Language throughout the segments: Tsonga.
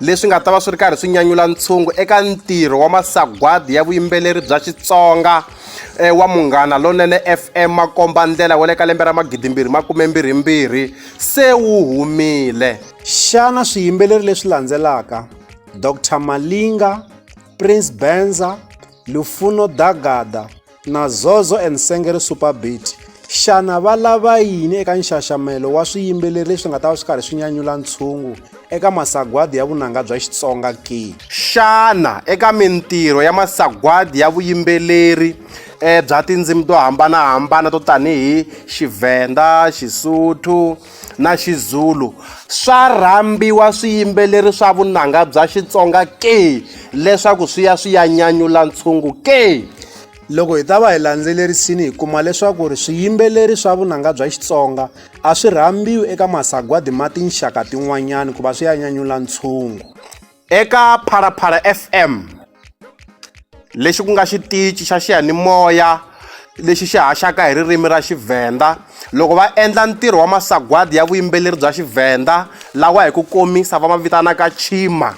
leswi nga ta va swi ri karhi swi nyanyula ntshungu eka ntirho wa masagwadi ya vuyimbeleri bya xitsonga e, wa munghana lonene fm makomba ndlela wa le ka lembe ra magidimbirhi makumembirhimbirhi se wu humile xana swiyimbeleri leswi landzelaka dr malinga prince benza lufuno dagada Na Zozo and Sengeri Super Beat, xana va lava yini eka nxaxamelo wa swiyimbeleri leswi nga ta va swi karhi swi nyanyula ntshungu eka masagwadi ya vunanga bya Xitsonga ke? Xana eka mintirho ya masagwadi ya vuyimbeleri bya tindzimi to hambanahambana to tanihi Xivhenda, Xisuthu, na Xizulu swa rhambiwa swiyimbeleri swa vunanga bya Xitsonga ke leswaku swi ya swi ya nyanyula ntshungu ke. Loko hi ta va hi landzelerisini hi kuma leswaku ri swiyimbeleri swa vunanga bya Xitsonga a swi rhambiwi eka masagwadi ma tinxaka tin'wanyana ku va swi ya nyanyula ntshungu. Eka Phalaphala FM, lexi ku nga xitichi xa xiyanimoya lexi xi haxaka hi ririmi ra Xivhenda, loko va endla ntirho wa masagwadi ya vuyimbeleri bya Xivhenda lawa hi ku komisa va ma vitanaka Chima,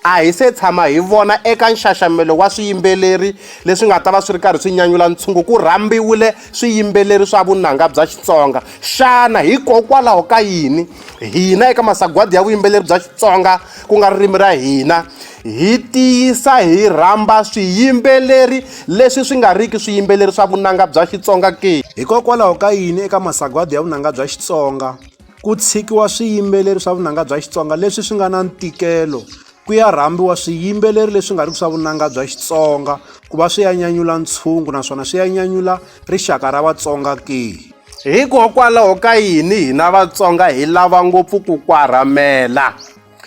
a hi se tshama hi vona eka nxaxamelo wa swiyimbeleri leswi nga ta va swi ri karhi swi nyanyula ntshungu ku rhambiwile swiyimbeleri swa vunanga bya Xitsonga. Xana hikokwalaho ka yini hina eka masagwadi ya vuyimbeleri bya Xitsonga ku nga ririmi ra hina hi tiyisa hi rhamba swiyimbeleri leswi swi nga riki swiyimbeleri swa vunanga bya Xitsonga ke? Hikokwalaho ka yini eka masagwadi ya vunanga bya Xitsonga ku tshikiwa swiyimbeleri swa vunanga bya Xitsonga leswi swi nga na ntikelo Ku ya rhambiwa swiyimbeleri leswi nga riki swa vunanga bya Xitsonga ku va swi ya nyanyula ntshungu naswona swi ya nyanyula rixaka ra Vatsonga ke? Hikokwalaho ka yini hina Vatsonga hi lava ngopfu ku kwarhamela?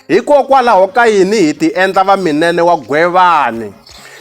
Hikokwalaho ka yini hi ti endla vaminene wa Gwevani?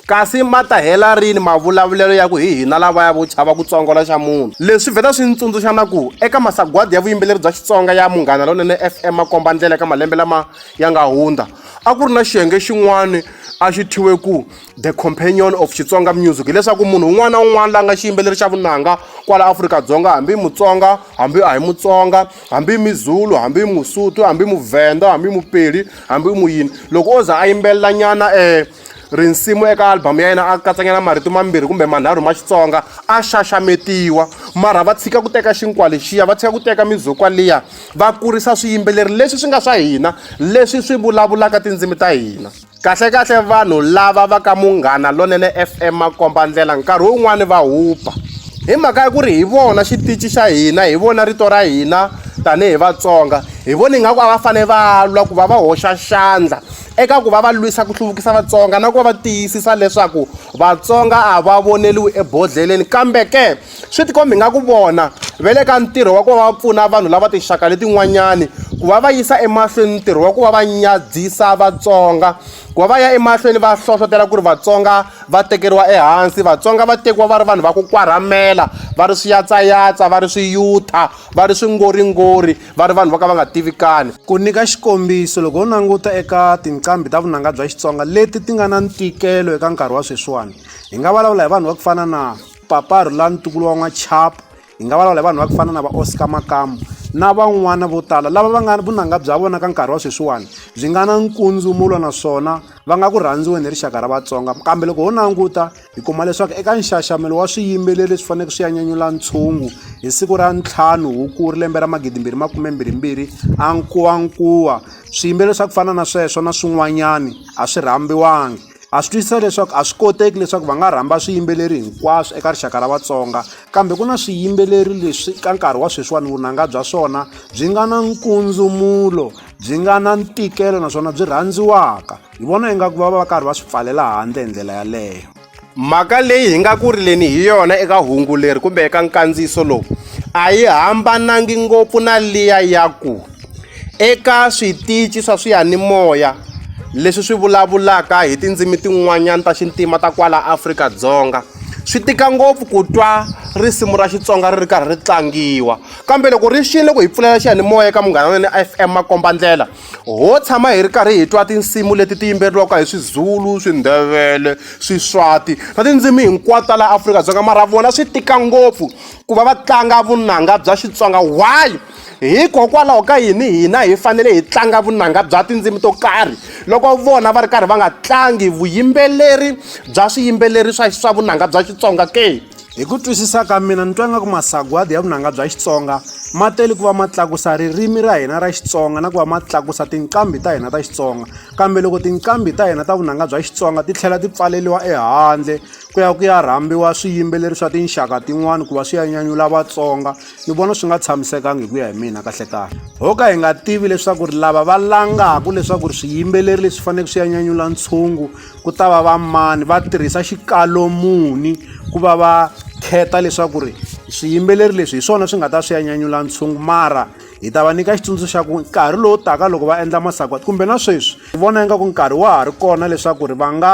Kasi ma ta hela rini mavulavulelo ya ku hi hina lavaya vo chava ku tsongola xa munhu? Leswi swi vheta swi ni tsundzuxa na ku eka masagwadi ya vuyimbeleri bya Xitsonga ya Munghana Lonene FM makomba-ndlela eka malembe lama ya nga hundza, a ku ri na xiyenge xin'wana a xi thyiwe ku The Companion of Xitsonga Music, hileswaku munhu un'wana na un'wana la nga xiyimbeleri xa vunanga kwala Afrika-Dzonga, hambi i Mutsonga hambi a hi Mutsonga, hambi mizulu hambi musuthu hambi muvhenda hambi mupeli hambi muyini loko o za a yimbelela nyana um risimu eka album ya yena a katsanyana marito mambirhi kumbe manharhu ma xitsonga a xaxametiwa mara va tshika ku teka xinkwa lexiya va tshika ku teka mizukwa liya va kurisa swiyimbeleri leswi swi nga swa hina leswi swi vulavulaka tindzimi ta hina Kahlekahle vanhu lava va ka Munghana Lonene FM makombandlela nkarhi wun'wani va hupa hi mhaka ya ku ri hi vona xitichi xa hina hi vona rito ra hina tanihi Vatsonga hi vona ingaku a va fanele va lwa ku va va hoxa xandla eka ku va va lwisa ku hluvukisa Vatsonga na ku va va tiyisisa leswaku Vatsonga a va voneliwi ebodhleleni kambe ke swi tikombi nga ku vona ve le ka ntirho wa ku va va pfuna vanhu lava tinxaka letin'wanyani ku va va yisa emahlweni ntirho wa ku va va nyadzisa vatsonga ku va va ya emahlweni va hlohlotela ku ri vatsonga va tekeriwa ehansi vatsonga va tekiwa va ri vanhu va ku kwarhamela va ri swiyatsayatsa va ri swiyutha va ri swingoringori va ri vanhu va ka va nga tivikani ku nyika xikombiso loko ho languta eka tinqambi ta vunanga bya xitsonga leti ti nga na ntikelo eka nkarhi wa sweswiwani hi nga vulavula hi vanhu va ku fana na Papa Rhula ntukulu wa N'wachapu hi nga vulavula hi vanhu va ku fana na va Oscar Makamu na van'wana vo tala lava va nga vunanga bya vona ka nkarhi wa sweswiwani byi nga na nkundzumulo naswona va nga ku rhandziweni hi rixaka ra Vatsonga kambe loko ho languta hi kuma leswaku eka nxaxamelo wa swiyimbeleri leswi faneleke swi ya nyanyula ntshungu hi siku ra ntlhanu Hukuri lembe ra magidi mbirhi makume mbirhi mbirhi a nkuwankuwa swiyimbeleri swa ku fana na sweswo na swin'wanyani a swi rhambiwangi Ha swi twisisa leswaku a swi koteki leswaku va nga rhamba swiyimbeleri hinkwaswo eka rixaka ra Vatsonga kambe ku na swiyimbeleri leswi ka nkarhi wa sweswiwani vunanga bya swona byi nga na nkundzumulo byi nga na ntikelo naswona byi rhandziwaka hi vona ingaku va va va karhi va swi pfalela handle hi ndlela yaleyo mhaka leyi hi nga ku rileni hi yona eka hungu leri kumbe eka nkandziyiso lowu a yi hambanangi ngopfu na liya ya ku Eka switici swa swiyanimoya leswi swi vulavulaka hi tindzimi tin'wanyana ta xintima ta kwala Afrika-Dzonga swi tika ngopfu ku twa risimu ra Xitsonga ri ri karhi ri tlangiwa kambe loko ri xini loko hi pfulela xiyanimoya eka Munghana Lonene F_M makombandlela ho tshama hi ri karhi hi twa tinsimu leti ti yimbeleriwaka hi Swizulu, Swindebele, Swiswati na tindzimi hinkwato ta laha Afrika-Dzonga mara vona swi tika ngopfu ku va va tlanga vunanga bya Xitsonga why? Hikokwalaho ka yini hina hi fanele hi tlanga vunanga bya tindzimi to karhi loko vona va ri karhi va nga tlangi vuyimbeleri bya swiyimbeleri swa swa vunanga bya Xitsonga ke? Hi ku twisisa ka mina ni twa nga ku masagwadi ya vunanga bya Xitsonga ma tele ku va ma tlakusa ririmi ra hina ra Xitsonga na ku va ma tlakusa tinqambi ta hina ta Xitsonga kambe loko tinqambi ta hina ta vunanga bya Xitsonga ti tlhela ti pfaleliwa ehandle ku ya ku ya rhambiwa swiyimbeleri swa tinxaka tin'wani ku va swi ya nyanyula Vatsonga ni vona swi nga tshamisekanga hi ku ya hi mina kahlekahle ho ka hi nga tivi leswaku ri lava va langaka leswaku ri swiyimbeleri leswi faneleke swi ya nyanyula ntshungu ku ta va va mani va tirhisa xikalo muni ku va va kheta leswaku ri swiyimbeleri leswi hi swona swi nga ta swi ya nyanyula ntshungu mara hi ta va nyika xitsundzuxo xa ku nkarhi lowu taka loko va endla masagwati kumbe na sweswi hi vona ingaku nkarhi wa ha ri kona leswaku ri va nga